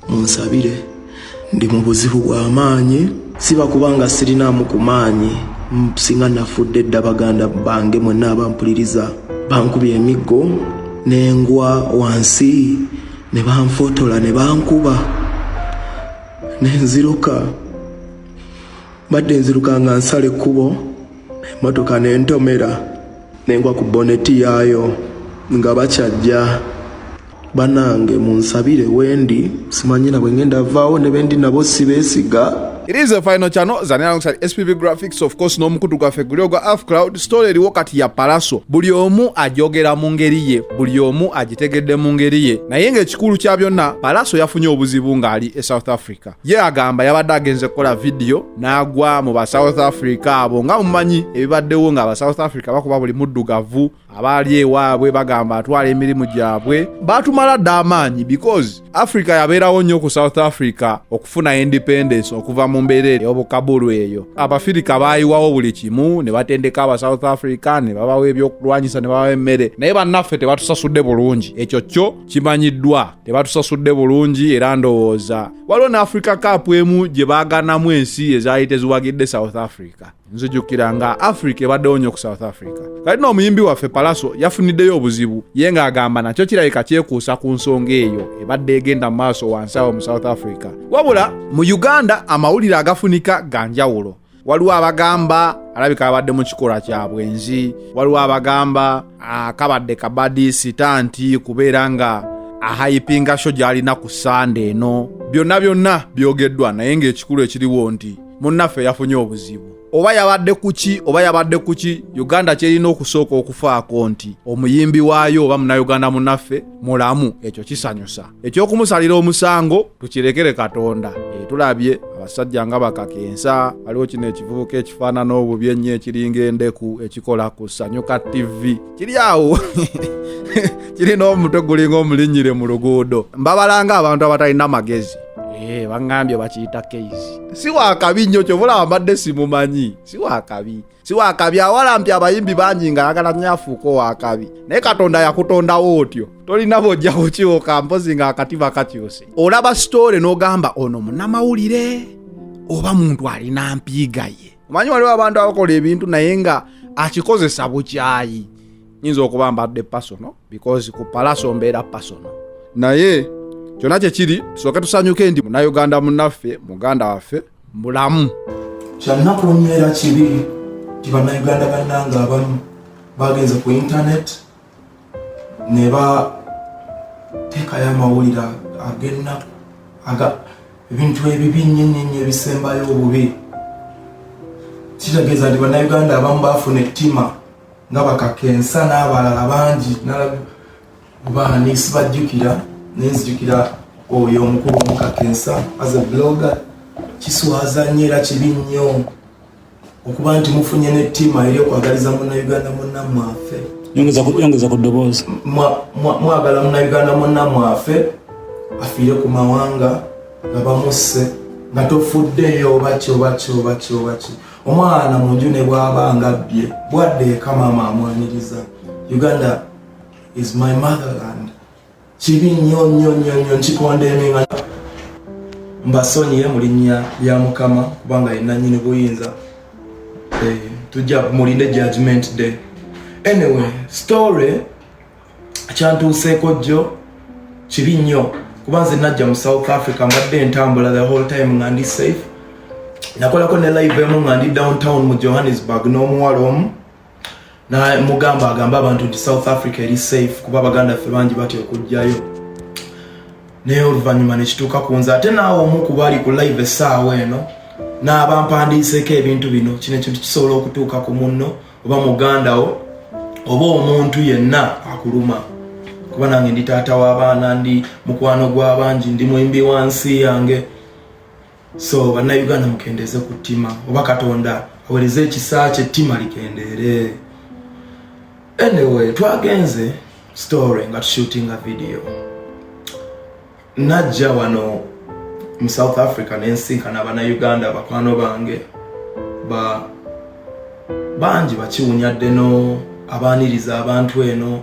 munsabire ndi mu buzibu bw'amaanyi siba kubanga sirinaamu ku maanyi singa nafudde dda baganda bange mwenna abampuliriza bankubye emiggo nengwa wansi ne banfotola ne bankuba nenziruka mbadde nziruka nga nsala ekkubo emmotoka nentomera nengwa ku boneti yaayo nga bakyajja banange munsabire wendi simanyina bwe ngenda vaawo ne bendi nabo sibeesiga It is a final channel zani alongside SPV Graphics of course n'omukutu gwaffe guli ogwa Half Cloud story eriwo kati ya Palaso buli omu ajogera mu ngeri ye buli omu agitegedde mu ngeri ye naye ng'ekikulu kya byonna Palaso yafunye obuzibu ng'ali e South Africa ye agamba yabadde agenze kukola vidiyo n'agwa mu ba south africa abo nga mumanyi ebibaddewo nga aba south africa bakuba buli muddugavu abaali ewaabwe bagamba atwala emirimu gyabwe batumala dda amaanyi because africa yabeerawo nnyo ku south africa okufuna independence okuva mu mbeera ey'obukabulu eyo abafirika baayiwawo buli kimu ne batendeka aba south africa ne babawa ebyokulwanyisa ne babawa emmere naye bannaffe tebatusasudde bulungi ekyo kyo kimanyiddwa tebatusasudde bulungi era ndowooza waliwo ne africa cup emu gye baaganamu ensi ezaali teziwagidde south africa nzijukira nga africa ebaddewo nnyo ku south africa kati no omuyimbi waffe palaso yafuniddeyo obuzibu ye ng'agamba nakyo kirabika kyekuusa ku nsonga eyo ebadde egenda mu maaso wansi awo mu south africa wabula mu uganda amawulire agafunika ga njawulo waliwo abagamba alabika abadde mu kikola kya bwenzi waliwo abagamba akabadde ah, kabadi sita nti kubeera nga ahayipinga sho gy'alina ku sande eno byonna byonna byogeddwa naye ng'ekikulu ekiriwo nti munnaffe yafunye obuzibu oba yabadde kuki oba yabadde kuki uganda kyerina okusooka okufaako nti omuyimbi waayo oba munauganda munaffe mulamu ekyo kisanyusa ekyokumusalira omusango tukirekere katonda e, tulabye abasajja nga bakakensa waliwo kino ekivubuka ekifaanana obubi ennyo ekiringa endeku ekikola ku sanyuka ttivi kiri awo kirina omutwe gulinga omulinnyire mu luguudo mbabalanga abantu abatalina magezi e, baŋambye bakiyita keisi si wakabi nnyo kyovulaba mbadde simumanyi si wakabi si wakabi awalampi abayimbi bangi nga ayagala nyo afuuka owakabi naye katonda yakutondawo otyo tolina bojja kukiwoka mpozi nga akatiba kakyuse olaba sitoole n'ogamba ono munamawulire oba muntu alina mpiiga ye omanyi waliwo abantu abakola ebintu naye nga akikozesa bukyayi nyinza okuba mbadde pasono because ku palaso mbeera pasono naye kyonna kyekiri soke tusanyuke ndi munauganda munaffe muganda waffe bulamu kyannaku nnyo era kibi nti bannayuganda bannanga abamu bagenze ku intaneti ne bateekayo amawulire agennaku ebintu ebibi nnyo nnyo nnyo ebisembayo obubi kitegeeza nti bannayuganda abamu baafuna ettima nga bakakensa n'abalala bangi baani sibajjukira naye nzijukira oyo omukulu omukakensa as a blogger kiswaza nnyo era kibi nnyo okuba nti mufunye ne ttiima eri okwagaliza munauganda munnamwafe yongeza ku ddoboozi mwagala munauganda munnamwafe afiire ku mawanga nga bamusse nga tofuddeyo obaki obaki obaki obaki omwana mu nju ne bwaba nga bbye bwadde ekamama amwaniriza uganda is my motherland kibi nnyo nnyo nnyo nnyo nkikondeminga mbasonyiye mu linnya lya mukama kubanga yenna nyini buyinza eh, tujja mulinde judgment day anyway story kyantuuseeko jjo kibi nnyo kuba nze najja mu south africa mbadde entambula the whole time nga ndi safe nakolako ne live emu nga ndi downtown mu johannesburg n'omuwala omu namugamba agambe abantu nti south africa eri safe kuba abaganda ffe bangi batya okujjayo naye oluvannyuma nekituuka ku nze ate naawe omu kuba ali ku live essaawa eno n'abampandiiseeko ebintu bino kino ekintu kisobola okutuuka ku munno oba muganda wo oba omuntu yenna akuluma kuba nange ndi taata w'abaana ndi mukwano gw'abangi ndi mwimbi wa nsi yange so bannayuganda mukendeeze ku ttima oba katonda awereze ekisa kye ttima likendeere anyway twagenze story nga tushootinga video najja wano mu south africa nensinkana bannayuganda bakwano bange ba bangi bakiwunya ddeno abaaniriza abantu eno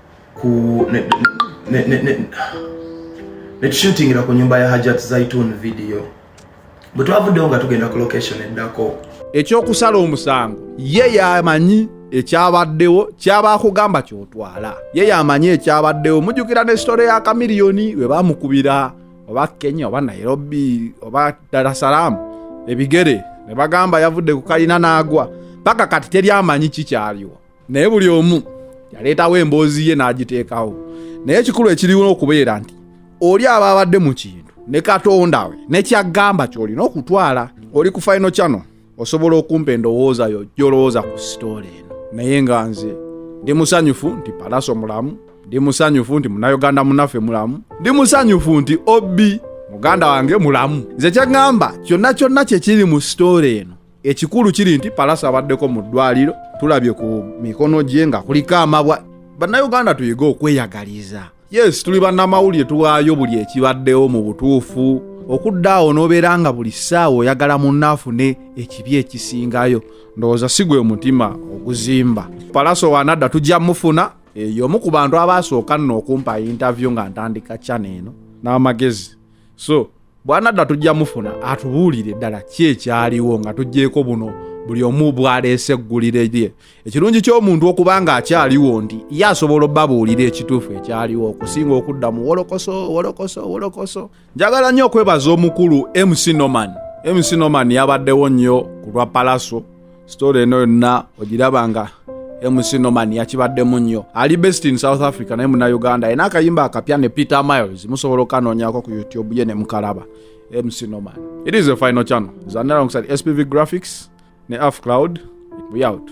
ku ne, ne, ne, ne, netushutingira ku nyumba ya Hajat Zaitun video bwe twavuddewo nga tugenda ku location eddako. Ekyokusala omusango ye yamanyi ekyabaddewo kyaba akugamba kyotwala ye yamanyi ekyabaddewo mujukira ne sitore ya kamiliyoni we bamukubira oba Kenya oba Nairobi oba Dar es Salaam ebigere ne bagamba yavudde ku kalina n'agwa paka kati teri amanyi kikyaliwo naye buli omu yaleetawo emboozi ye n'agiteekawo naye ekikulu ekiriwo okubeera nti oli aba abadde mu kintu ne katonda we nekyagamba kyolina okutwala oli ku faino kyano osobola okumpa endowooza yo gyolowooza ku sitoola eno naye nga nze ndi musanyufu nti palaso mulamu ndi musanyufu nti munayuganda munaffe mulamu ndi musanyufu nti obi muganda wange mulamu nze kyaŋŋamba kyonna kyonna kyekiri mu sitoola eno ekikulu kiri nti palasa abaddeko mu ddwaliro tulabye ku mikono gye nga kuliko amabwa bannayuganda tuyige okweyagaliza yes tuli bannamawulire tuwaayo buli ekibaddewo mu butuufu okudda awo n'obeera nga buli ssaawa oyagala munna afune ekibi ekisingayo ndowooza si gwe mutima oguzimba palaso wanadda tujja mufuna eyo omu ku bantu abaasooka nno okumpa yintavyu nga ntandika cana eno n'amagezi so bwanadda tujja mufuna atubuulire ddala ki ekyaliwo nga tuggyeko buno buli omu bwaleese eggulire lye ekirungi ky'omuntu okuba nga akyaliwo nti ye asobola obabuulira ekituufu ekyaliwo okusinga okudda mu wolokoso wolokoso wolokoso njagala nnyo okwebaza omukulu mc norman mc norman yabaddewo nnyo ku lwa palaso story eno yonna ogiraba nga mc norman yakibaddemu nnyo ali best in south africa naye muna uganda yena akayimba akapya ne peter miles musobola okanoonyako ku youtube ye ne mukalaba mc norman it is a final channel zanalongside spv graphics ne af cloud we out